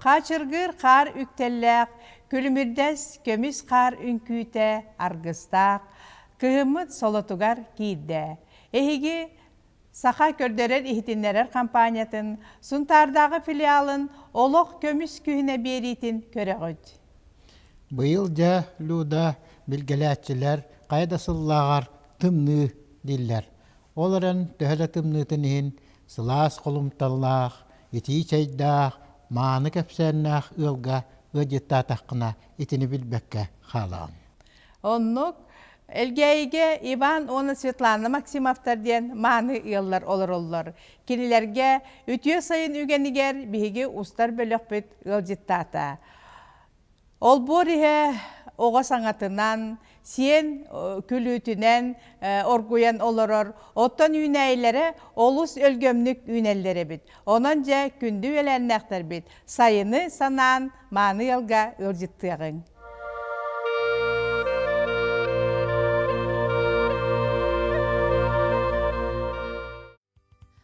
Хаачыргыыр хаар үктэллээх, күлүмүрдэс көмүс хаар үҥкүүтэ аргыстаах, кыһыммыт солотугар киирдэ. Эһиги Саха көрдөрөр-иһитиннэрэр хампаанньатын Сунтаардааҕы филиалын олох көмүс күһүнэ биэриитин көрөҕүт. Быйыл дьэ Люда билгэлээччилэр хайа да сыллааҕар тымныы дииллэр. Ол эрэн төһө да тымныытын иһин, сылаас холумталлаах, итии чэйдээх, мааны кэпсээннээх ыалга ыалдьыттаатаххына итини билбэккэ хаалаҕын. Оннук Элгээйигэ Иван уонна Светлана Максимовтар диэн мааны ыаллар олороллор. Кинилэргэ үтүө сайын үгэнигэр биһиги устар бөлөхпүт ыалдьыттаата. Олбуор иһэ оҕо саҥатынан, сиэн күлүүтүнэн оргуйан олорор, оттон үүнээйилэрэ олус өлгөмнүк үүнэллэр эбит. Онон дьэ күндү үөлээннээхтэрбит, сайыны санаан мааны ыалга ыалдьыттыаҕыҥ.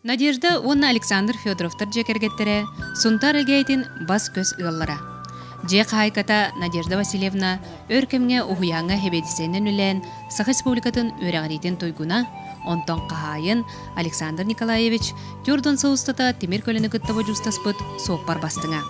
Надежда уонна Александр Федоровтар дьиэ кэргэттэрэ Сунтаар Элгээйтин бас-көс ыаллара. Дьиэ хаһайката Надежда Васильевна өр кэмҥэ уһуйааҥҥа хэбиэдиссэйинэн үлээн Саха Республикатын үөрэҕириитин туйгуна, онтон хаһаайын Александр Николаевич Тёрдон сыл устата тимир көлөнү кытта бодьуустаспыт суоппар бастыҥа.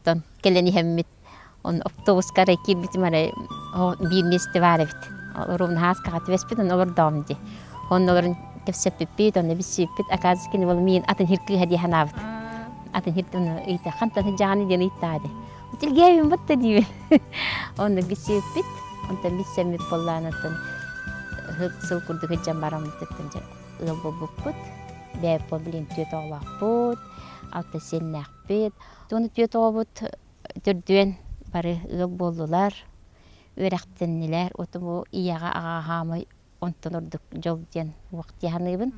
Оттон кэлэн иһэммит оптуобуска эрэ киирбитим эрэ биирнии ыстибаар эбит. Румнаһаас каха түбэспит онно олордоом дии. Онно олорон кэпсэппиппит, онно билсиппит. Оказывается кини уол миин атын иһир кыыһа дии санаабыт. Атын иһир оны ыйта хантан сыдьаҕаны диэн ыйттаа дии. Тилгээбин бутта диибин. Онно билсиппит. Онтон билсэммит буоллаан оттон сыл курдук ыдьан бараммыттыттан дьэ ыал буолбуппут. Бэйэппо билин түөт оҕолоохпут. Алта сиэннээхпит. Бүт, уну түөт оҕобут түрдүөн бары ыал буоллулар, үөрэхтэннилэр, оту бу ийэҕэ аҕаа хаамай онтон ордук дьол диэн уох дии саныыбын.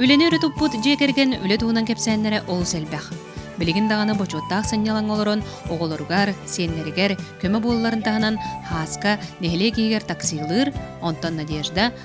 Үлэни өрө туппут дьиэ кэргэн үлэ туһунан кэпсээннэрэ олус элбэх. Билигин даҕаны бочуоттаах сынньалаҥ олорон оҕолоругар, сиэннэригэр көмө буолларын таһынан Хааска нэһилиэк иһигэр таксилыыр, онтон Надежда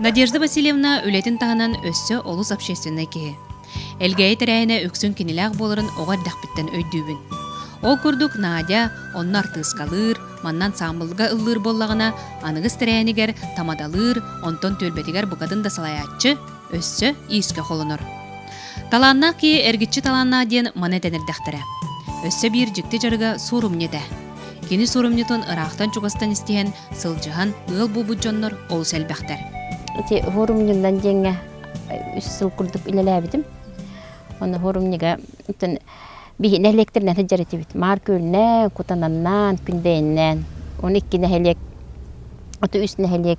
Надежда Васильевна үлэтин таһынан өссө олус общественнай киһи. Элгээйи тэрээһинэ үксүн кинилээх буоларын оҕо эрдэхпиттэн өйдүүбүн. Ол курдук Надя онно артыыскалыыр, манна ансаамбылга ыллыыр буоллаҕына, аныгыс тэрээһинигэр тамадалыыр, онтон түөлбэтигэр букатын да салайааччы өссө иискэ холонор. Талааннаах киһи эргиччи талааннаах диэн маны этэн эрдэхтэрэ. Өссө биир дьикти дьарыга суорумньу этэ. Кини сурумньутун ыраахтан-чугастан истиһэн, сылдьыһан ыал буолбут дьоннор олус элбэхтэр. Ити форумньуннан диэҥҥэ үс сыл курдук үлэлээбитим. Ону форумньуга биһи нэһилиэктэринэн сылдьар этибит. Маар Күөлнээн, Кутананнаан, Күндэйиннээн. Оны икки нэһилиэк, оту үс нэһилиэк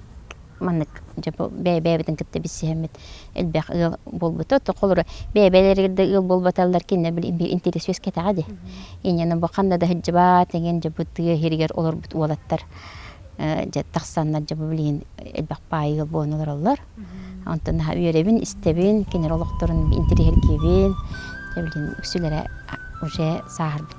Маннык дьэ бу бэйэ-бэйэбитин кытта билсиһэммит элбэх ыал буолбута. То холобура бэйэ-бэйэлэригэр да ыал буолбаталлар кинилэр били биир интириэс үөскэтэҕэ дии. Инньэ бу ханна да сылдьыбат эҥин дьэ бу тыа иһигэр олорбут уолаттар дьэ тахсаннар дьэ бу билигин элбэх баайы ыал буолан олороллор. Онтон наһаа үөрэбин, истэбин кинилэр олохторун интириэһиргиибин. Дьэ билигин үксүлэрэ уже сааһырбыттар.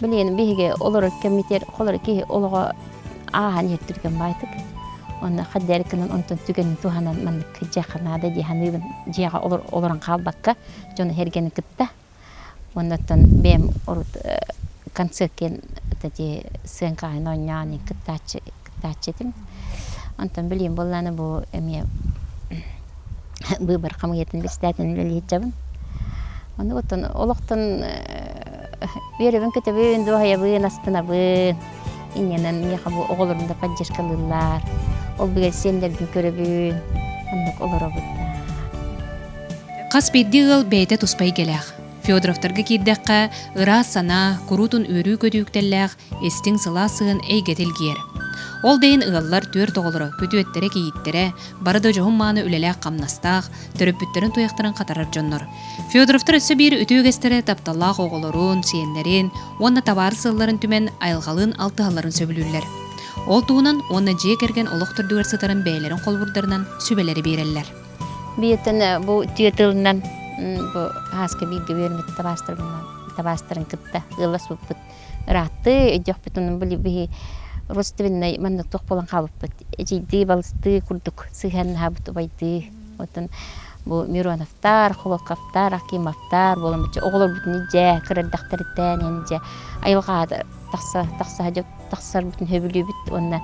Билигин биһиги олорор кэммитигэр холоро киһи олоҕо ааһан иһэр түргэн баайтык. Онно хаддары кынан онтон түгэнин туһанан маннык дьиэхэ наада дии саныыбын дьиэҕэ олорон хаалбакка дьон эргени кытта оннуттан бэйэм урут концерт диэн сыаҥкаһын оонньоон кыттааччы кыттааччы этим. Онтон билиим буоллааны бу эмиэ быыбар хамыйатын бэстаатын үлэлиһиччабын. Ону оттон олохтон үөрөбүн көтөбүн, дуоһайабын, астынабын. Иннэнэн миэхэ бу оҕолорум да поддержкалыыллар. Ол бигэр сиэннэрбин көрөбүн. Оннук олоробут да. Хас биирдии ыал бэйэтэ туспа эйгэлээх. Федоровтарга киирдэххэ, ыраас санаа, куруутун үөрүү көтүүктэллээх, Истиҥ сылаас сыһын эйгэтэ илгийэр. Ол да иһин ыаллар, түөрт оҕолоро, күтүөттэрэ-кийииттэрэ, бары да дьоһун-мааны үлэлээх-хамнастаах, төрөппүттэрин-туойахтарын хатарар дьоннор. Федоровтар өссө биир үтүө үгэстэрэ тапталлаах оҕолорун, сиэннэрин уонна табаарыс сылларын түмэн айылҕалыын алтыһалларын сөбүлүүллэр. Ол туһунан уонна дьиэ кэргэн олох төрдүгэр сытарын бэйэлэрин холобурдарынан сүбэлэри биэрэллэр. Бииртэн бу түөрт ыылынан бу сааска бииргэ үөрэммит табаастарбын кытта ыала сууппут Ырааттыы өйдөхпүт онон били родственнай маннык туох буолан хаалбыппыт эдьийдии балыстыы курдук сыһыаннаһабыт убайдыы оттон бу мироновтар холуокаптар акимовтар буолан бачча оҕолорбутун дьэ кыра эрдэхтэриттэн эн дьэ айылҕаҕа тахса тахса тахсарбытын сөбүлүүбүт уонна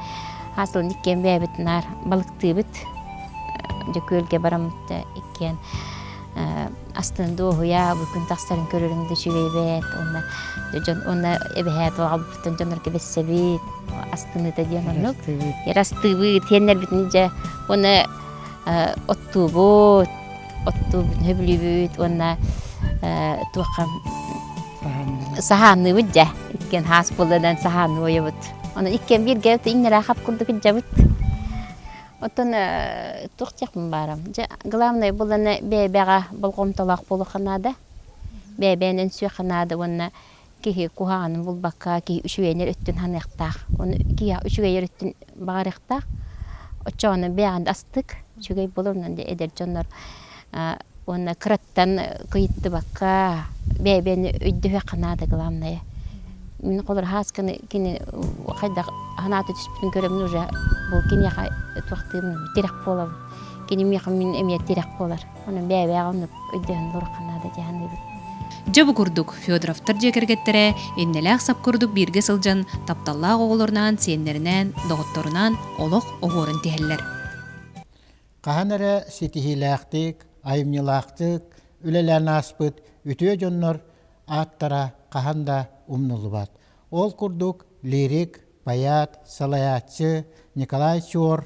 аасылан иккиэн бэйэбит наар балыктыыбыт Дьөкүөлгэ бараммыт да иккиэн астын дуоһуйа бу күн тахсарын көрөрүҥ да үчүгэйбэт уонна дьон уонна эбэһээт оҕабыттан дьоннорго бэссэбит астыныта диэн оннук астыыбыт тиэннэрбитин дьэ уонна оттуубут оттуубут сөбүлүүбүт уонна туохха саһаанныыбыт дьэ иккиэн хаас буолладан саһаан уойабыт онон иккиэн бииргэ иҥнэрэ хап курдук ыдьабыт Оттон туох диэхпин баарам дьэ главное буланы бэйэбэҕэ болҕомтолоох буолуохха наада бэйэбинэн үҥсүөххэ наада уонна киһи куһаҕанын булбакка киһи үчүгэйинэр өттүн саныахтаах оны киһи үчүгэйэр өттүн баҕарыахтаах оччоҕуна бэйэҕин астык үчүгэй боло онон эдэр дьоннор уонна кыраттан кыйыттыбакка бэйэбиэн өйдөһүөххэ наада главное мин холобура хаасканы кини хайдах санаата түспүтүн көрөмүн уже бу киниэхэ туохтуурун тирэх буолабын кини миэхэ мин эмиэ тирэх буолар онон бэйэбээҕи оннук өйдөһөн туруохха наада дии саныыбын дьэ бу курдук федоровтар дьиэ кэргэттэрэ иннэлээх сап курдук бииргэ сылдьан тапталлаах оҕолорунаан сиэннэринээн доҕотторунаан олох оһуорун тиһэллэр хаһан эрэ ситиһиилээхтик, айымньылаахтык үлэлээн ааспыт үтүө дьоннор ааттара хаһан да умнуллубат. Ол курдук лирик, поэт, салайааччы Николай Чуор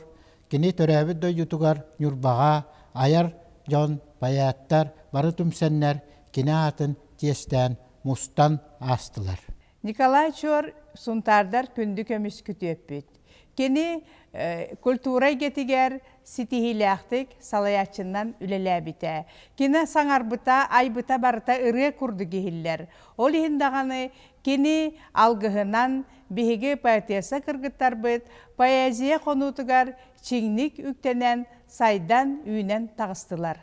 кини төрөөбүт дойдутугар Ньурбаҕа айар дьон, поэттар бары түмсэннэр кини аатын чиэстээн мустан аастылар. Николай Чор Сунтаардар күндү көмүс күтүөппүт. Кини культура эйгэтигэр ситиһиилээхтик салайааччыннан үлэлээбитэ. Кини саҥарбыта, айбыта барыта ырыа курдук иһиллэр. Ол иһин даҕаны кини алгыһынан биһиги поэтесса кыргыттарбыт поэзия хонуутугар чиҥник үктэнэн, сайдан, үүнэн таҕыстылар.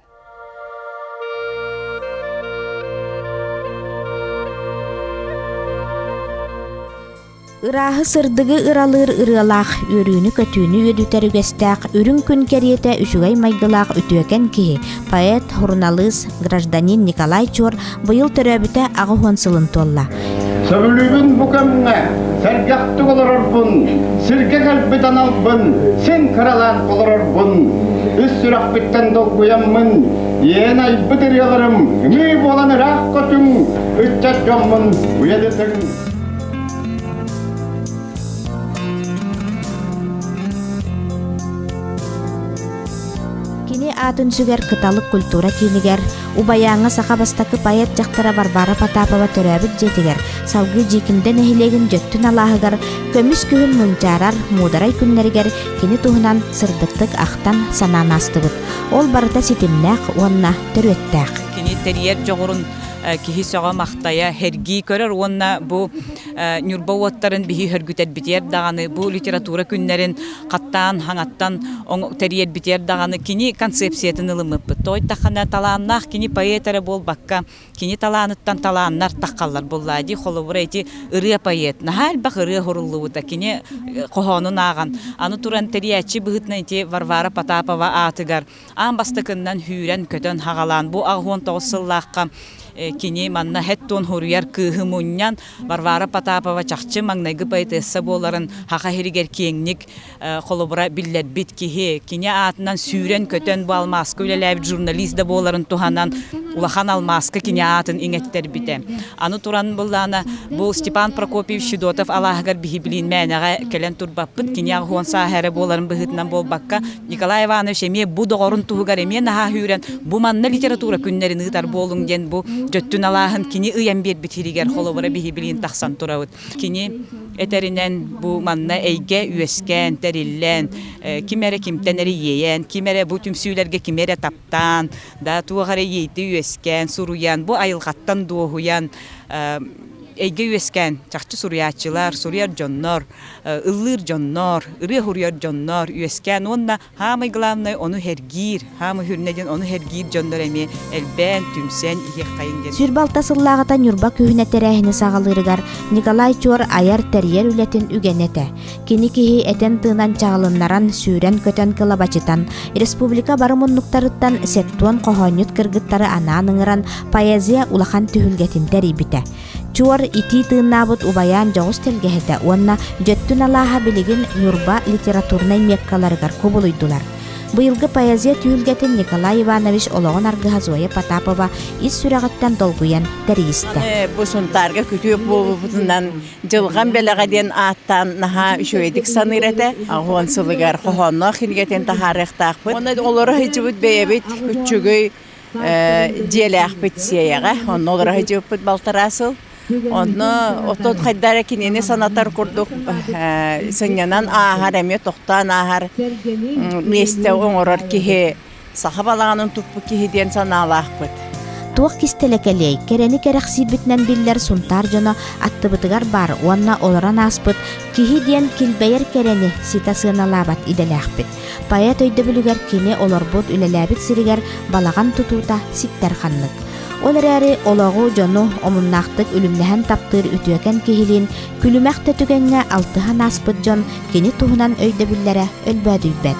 Ырааһы сырдыгы ыралыыр ырыалаах, үөрүүнү-көтүүнү үөдүтэр үгэстээх, үрүҥ күн кэриэтэ үчүгэй майгылаах үтүөкэн киһи поэт, суруналыыс, гражданин Николай Чуор быйыл төрөөбүтэ аҕыс уон сылын туолла. Сөбүлүүбүн бу кэмҥэ сэргэхтик олорорбун, сиргэ кэлбит аналбын син кыралаан олорорбун, үс сүрэхпиттэн долгуйаммын, иэн айбыт ырыаларым ымыы буолан ыраах көтүҥ, ыччат дьоммун уйадытыҥ. Кини аатын сүгэр Кыталык культура киинигэр, убайааҥҥа саха бастакы поэт дьахтара Варвара Потапова төрөөбүт дьиэтигэр, салгыы Дьиикимдэ нэһилиэгин дьөттүн алааһыгар, көмүс күһүн мунчаарар муударай күннэригэр кини туһунан сырдыктык ахтан, санаан аастыбыт. Ол барыта ситимнээх уонна төрүөттээх. Кини тэрийэр дьоҕурун киһи сөҕө-махтайа, эргии көрөр уонна бу Ньурба уоттарын биһи сөргүтэрбитигэр даҕаны бу литература күннэрин хаттаан хаҥаттан тэрийэрбитигэр даҕаны кини концепциятын ылыммыппыт. Тойтахана талааннаах кини поэт эрэ буолбакка, кини талааныттан талааннар таххаллар буоллаа дии. Холобура, ити ырыа поэт. Наһаа элбэх ырыа уһуруллубута кини хоһоонун ааҕан. Аны туран тэрийээччи быһыытынан ити Варвара Потапова аатыгар аан бастакыннан сүүрэн-көтөн хаҕалаан бу аҕыс тоҕус сыллаахха кини манна хэт туон хоруйар кыыһы мунньан Варвара Потапова чахчы маҥнайгы поэтесса буоларын Хаха сиригэр киэҥник холобура биллэрбит киһи кини аатынан сүүрэн-көтөн бу алмааска үлэлээбит журналист да буоларын туһанан улахан алмааска кини аатын иҥэттэрбитэ аны туран быллаана бу Степан Прокопьевич Федотов алааһыгар биһиблиин мээнэҕэ кэлэн турбаппыт кини аҕыс сааһа эрэ буоларын быһыытынан буолбакка Николай Иванович эмиэ бу доҕорун туһугар эмиэ наһаа үүрэн бу манна литература күннэрин ыытар буолуҥ диэн бу дьөттүн алааһын кини ыйан биэрбит иһигэр холобура биһи билигин тахсан турабыт. Кини этэринэн бу манна эйгэ үөскээн, тэриллэн, ким эрэ кимтэн эрэ иэйэн, ким эрэ бу түмсүүлэргэ ким эрэ таптаан, да туох эрэ иэйти үөскээн, суруйан, бу айылҕаттан дуоһуйан эйгэ үөскээн чахчы суруйааччылар, суруйар дьоннор ыллыыр дьоннор, ырыа уһуруйар дьоннор үөскээн уонна хаамай главное ону сэргиир, хаамай үрнэ диэн ону сэргиир дьоннор эмиэ элбээн, түмсэн иһиэххэйин диэн. Сүр балта сыллааҕыта Ньурба күһүнэ тэрээһини саҕалыырыгар Николай Чуор айар-тэрийэр үлэтин үгэнэ этэ. Кини киһи этэн-тыынан чаҕылыннаран, сүүрэн-көтөн кылабачытан, республика бары муннуктарыттан сэттуон хоһоонньут кыргыттары анаан ыҥыран, поэзия улахан түһүлгэтин тэрийбитэ. Чуор итии тыыннаабыт убайаан дьоҕус тэлгэһэтэ уонна дьөттүн алааһа билигин Ньурба литературнай миэккаларыгар кубулуйдулар. Быйылгы поэзия түһүлгэтин Николай Иванович олоҕун аргыһа Зоя Потапова ис сүрэҕиттэн долгуйан тэрийистэ. Бу Сунтаарга күтүөп буолбутунан Дьылҕам бэлэҕэ диэн ааттаан наһаа үчүгэйдик саныыр этэ. Аҕыон сылыгар хоһоонноох кинигэтин таһаарыахтаахпыт. Онно олоро сылдьыбыт бэйэбит күччүгүй дьиэлээхпит сиэйэҕэ онно олороро дьыыппыт балтараа сыл онно оттон хайда эрэ кинини санатар курдук сынньанан ааһар эмиэ тохтоон ааһар миэстэ оҥорор киһи саха балаҕанын туппут киһи диэн санаалаахпыт туох кистэлэ кэлиэй кэрэни кэрэхсиирбитинэн биллэр сунтаар дьоно аттыбытыгар баар уонна олорон ааспыт киһи диэн килбэйэр кэрэни ситэ сыаналаабат идэлээхпит Поэт өйдөбүлүгэр кини олорбут, үлэлээбит сиригэр балаҕан тутуута ситтэр-ханнык. Ол эрээри олоҕу, дьону омуннаахтык үлүмнэһэн таптыыр үтүөкэн киһилиин күлүмэх да түгэҥҥэ алтыһан ааспыт дьон кини туһунан өйдөбүллэрэ өлбөөдүйбэт.